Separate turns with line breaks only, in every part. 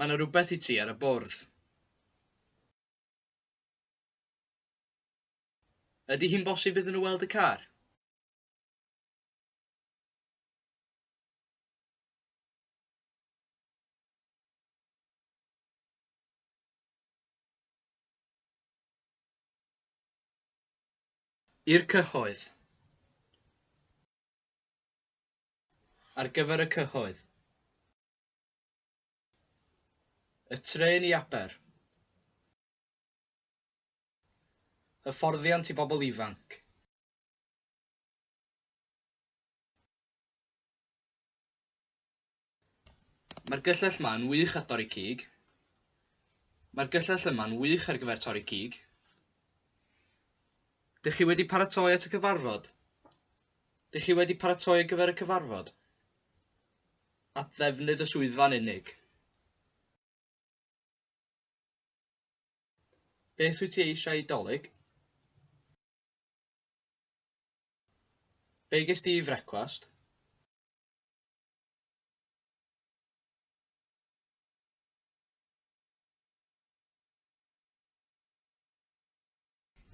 Mae 'na rywbeth i ti ar y bwrdd. Ydy hi'n bosib iddyn nhw weld y car? I'r cyhoedd. Ar gyfer y cyhoedd. Y trên i Aber. Hyfforddiant i bobl ifanc. Mae'r gyllell ma yn wych at dorri cig. Mae'r gyllell yma'n wych ar gyfer torri cig. Dych chi wedi paratoi at y cyfarfod? Dych chi wedi paratoi ar gyfer y cyfarfod? at ddefnydd y swyddfa'n unig. Beth wyt ti eisiau ei dolyg? Be ges di i frecwast?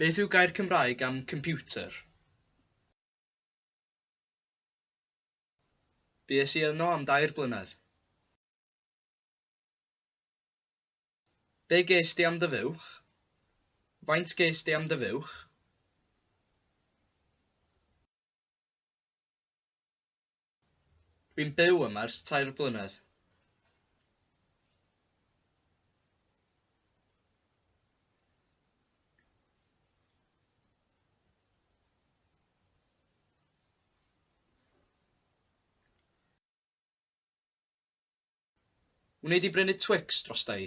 Beth yw gair Cymraeg am computer? Bues i yno am dair blynedd. Be gest ti am dy fuwch? Faint gest ti am dy fuwch? Dwi'n byw yma ers tair blynedd. Wnei di brynu Twix drosta i?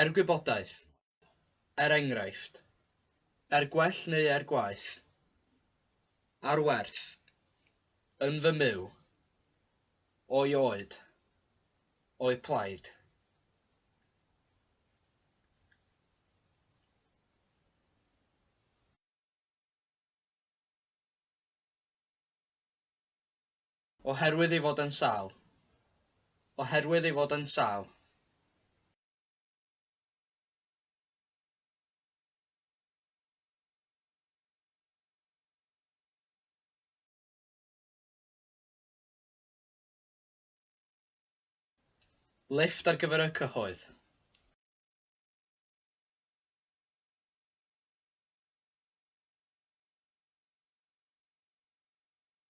Er gwybodaeth, er enghraifft, er gwell neu er gwaeth, ar werth, yn fy myw, o'i oed, o'i plaid. Oherwydd ei fod yn sâl. Oherwydd ei fod yn sâl. Lifft ar gyfer y cyhoedd.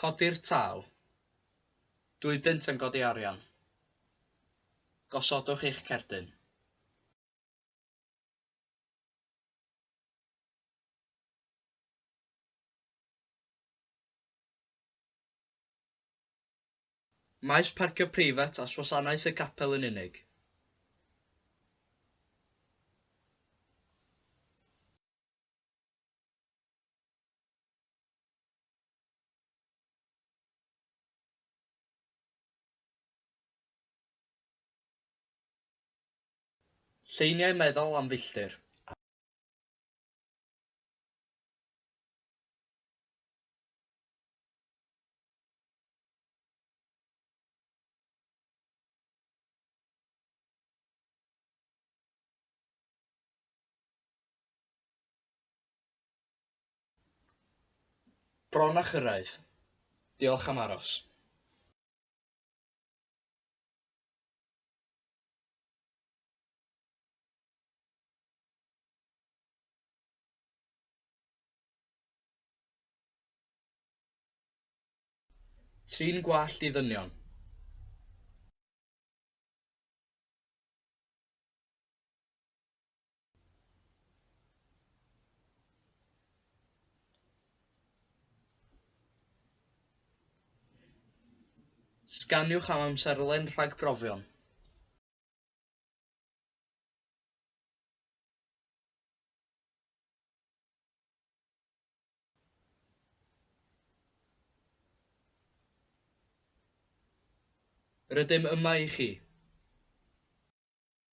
Codi'r tâl. Dwy bunt yn godi arian. Gosodwch eich cerdyn. Maes parcio preifat at wasanaeth y capel yn unig. Lleiniau meddal am filltir. Bron a chyrraedd. Diolch am aros. Trin gwallt i ddynion. Sganiwch am amserlen rhagbrofion. Rydym yma i chi.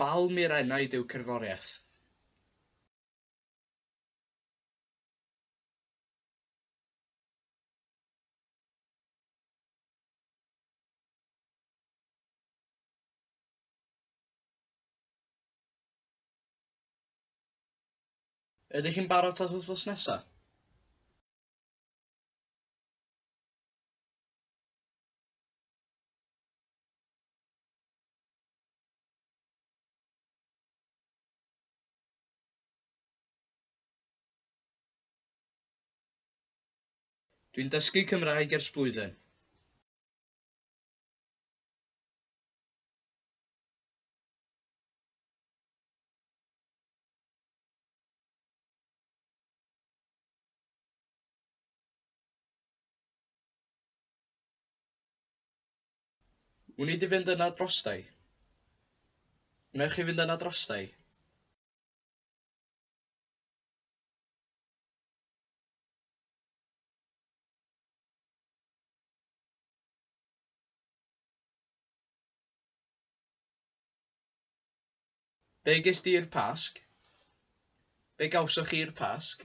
Balm i'r enaid yw cerddoriaeth. Ydych chi'n barod at wythnos nesa? Dwi'n dysgu Cymraeg ers blwyddyn. Wnei di fynd yna drosta i? Wnewch chi fynd yna drosta i? Be gest ti i'r Pasg? Be gawsoch chi i'r Pasg?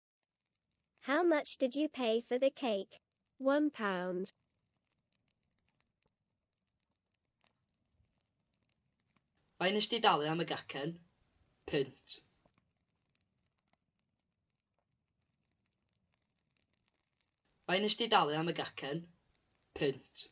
How much did you pay for the cake? One pound. Faint nes di dalu am y gacen? Punt. Faint nes di dalu am y gacen? Punt.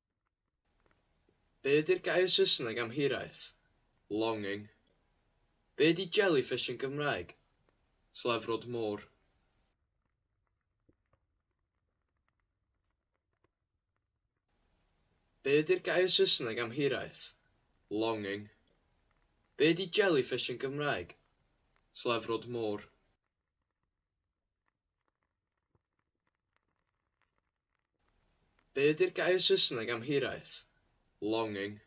Be ydy'r gair Saesneg am hiraeth? Longing. Be ydy jellyfish yn Gymraeg? Slefrod môr. Be ydy'r gair Saesneg am hiraeth? Longing. Be ydy jellyfish yn Gymraeg? Slefrod môr. Be ydy'r gair Saesneg am hiraeth? Longing.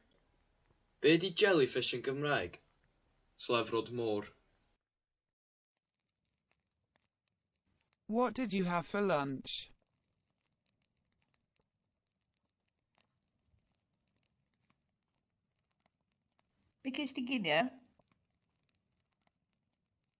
Be ydy jellyfish yn Gymraeg? Slefrod môr. What did you have for lunch? Be ges di ginio?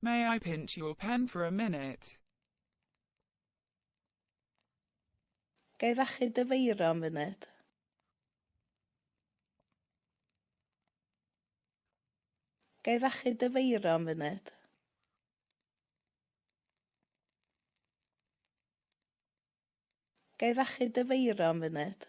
May I pinch your pen for a minute? Ga i fachu dy feiro am funud? Ga i fachu dy feiro am funud? Ga i fachu dy feiro am funud?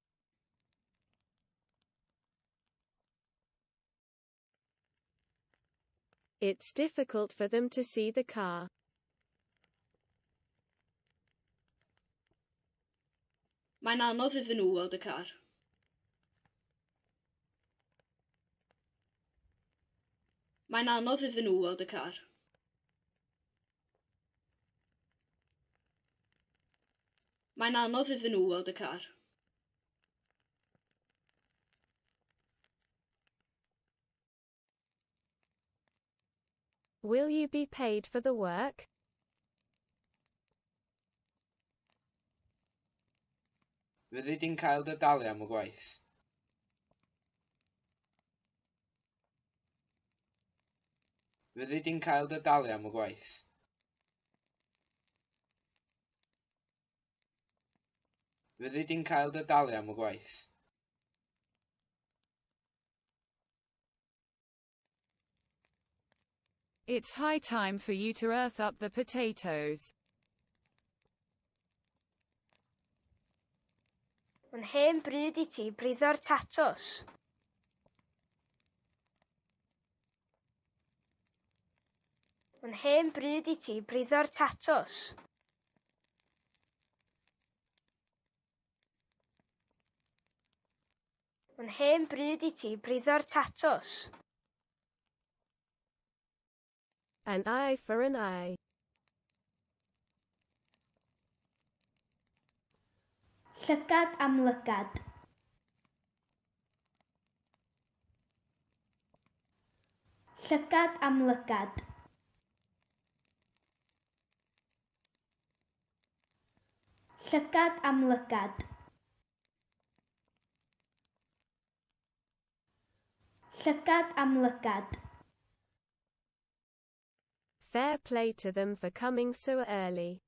It's difficult for them to see the car. Mae'n anodd iddyn nhw weld y car. Mae'n anodd iddyn nhw weld y car. Mae'n anodd iddyn nhw weld y car. Will you be paid for the work? Fyddi di'n cael dy dalu am y gwaith? Fyddi di'n cael dy dalu am y gwaith? Fyddi di'n cael dy dalu am y gwaith. It's high time for you to earth up the potatoes. Mae'n hen bryd i ti briddo'r tatws. Mae'n hen bryd i ti briddo'r tatws. Mae'n hen bryd i ti briddo'r tatws. An eye for an eye. Llygad am lygad. Llygad am lygad. Llygad am lygad. Llygad am lygad. Fair play to them for coming so early.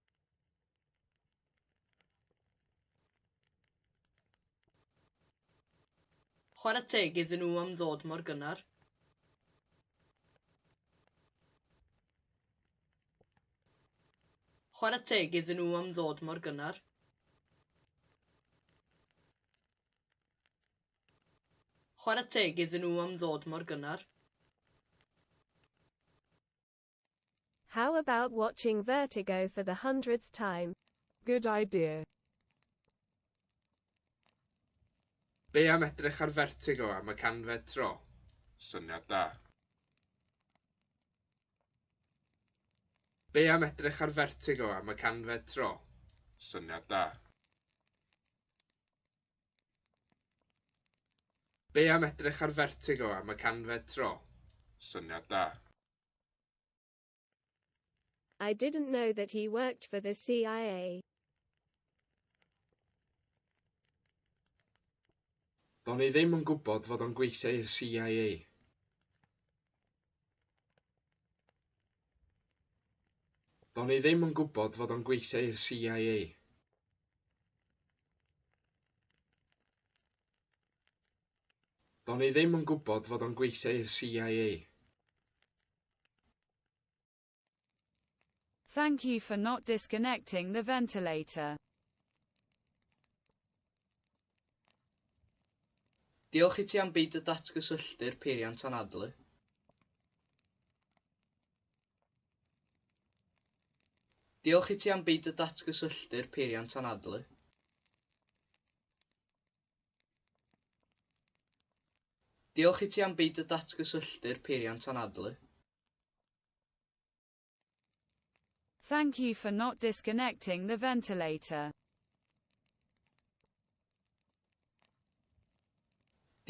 Chwarae teg iddyn nhw am ddod mor gynnar. Chwarae teg iddyn nhw am ddod mor gynnar. Chwarae teg iddyn nhw am ddod mor gynnar. How about watching Vertigo for the hundredth time? Good idea. Be am edrych ar Vertigo am y canfed tro? Syniad da. Be am edrych ar Vertigo am y canfed tro? Syniad da. Be am edrych ar Vertigo am y canfed tro? Syniad da. I didn't know that he worked for the CIA. Do'n i ddim yn gwybod fod o'n gweithio i'r CIA. Do'n i ddim yn gwybod fod o'n gweithio i'r CIA. Do'n i ddim yn gwybod fod o'n gweithio i'r CIA. Thank you for not disconnecting the ventilator. Diolch i ti am beidio datgysylltu'r peiriant anadlu. Diolch i ti am beidio datgysylltu'r peiriant anadlu. Diolch i ti am beidio datgysylltu'r peiriant anadlu. Thank you for not disconnecting the ventilator.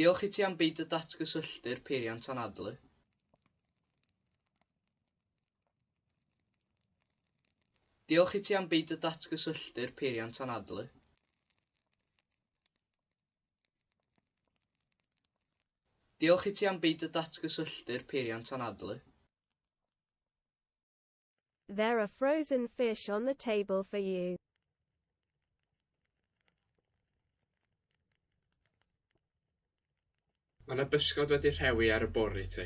Diolch i ti am beidio datgysylltu'r peiriant anadlu. Diolch i ti am beidio datgysylltu'r peiriant anadlu. Diolch i ti am beidio datgysylltu'r peiriant anadlu. There are frozen fish on the table for you. Mae yna bysgod wedi rhewi ar y bwrdd i ti.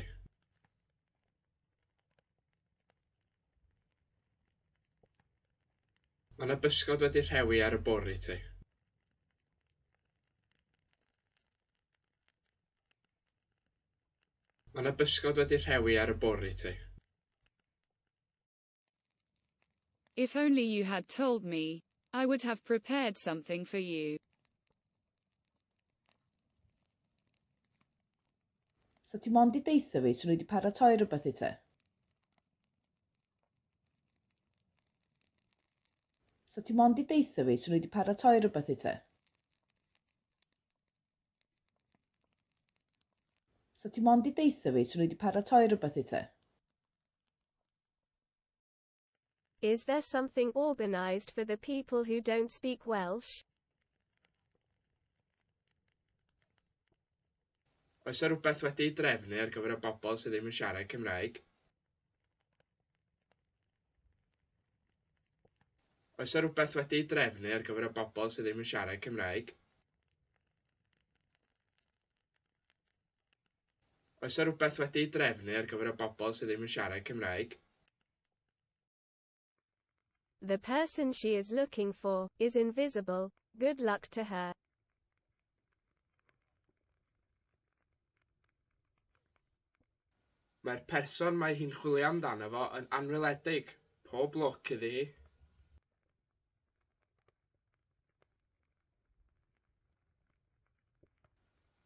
Mae yna bysgod wedi rhewi ar y bwrdd i ti. Mae yna bysgod wedi rhewi ar y bwrdd i ti. If only you had told me, I would have prepared something for you. Sa ti mond i deitha fi, swn i wedi paratoi rhywbeth i ti. Sa ti mond i deitha fi, swn i wedi paratoi rhywbeth i ti. So ti mond i deitha fi, so nhw wedi paratoi rhywbeth i te? Is there something organised for the people who don't speak Welsh? Oes yna rhywbeth wedi'i drefnu ar gyfer y bobl sydd ddim yn siarad Cymraeg? Oes yna rhywbeth wedi ei drefnu ar gyfer y bobl sydd ddim yn siarad Cymraeg? Oes yna rhywbeth wedi ei drefnu ar gyfer y bobl sydd ddim yn siarad Cymraeg? The person she is looking for is invisible. Good luck to her. Mae'r person mae hi'n chwilio amdano fo yn anweledig. Pob lwc iddi hi.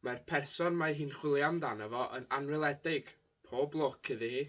Mae'r person mae hi'n chwilio amdano fo yn anweledig. Pob lwc iddi hi.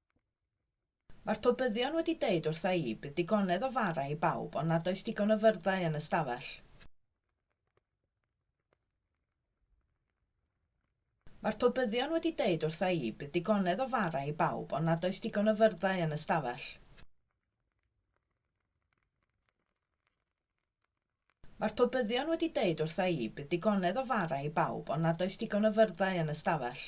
Mae'r pobyddion wedi deud wrtha i, bydd digonedd o fara i bawb ond nad oes digon o fyrddau yn y stafell. Mae'r pobyddion wedi deud wrtha i, bydd digonedd o fara i bawb ond nad oes digon o fyrddau yn y stafell. Mae'r pobyddion wedi deud wrtha i, bydd digonedd o fara i bawb ond nad oes digon o fyrddau yn y stafell.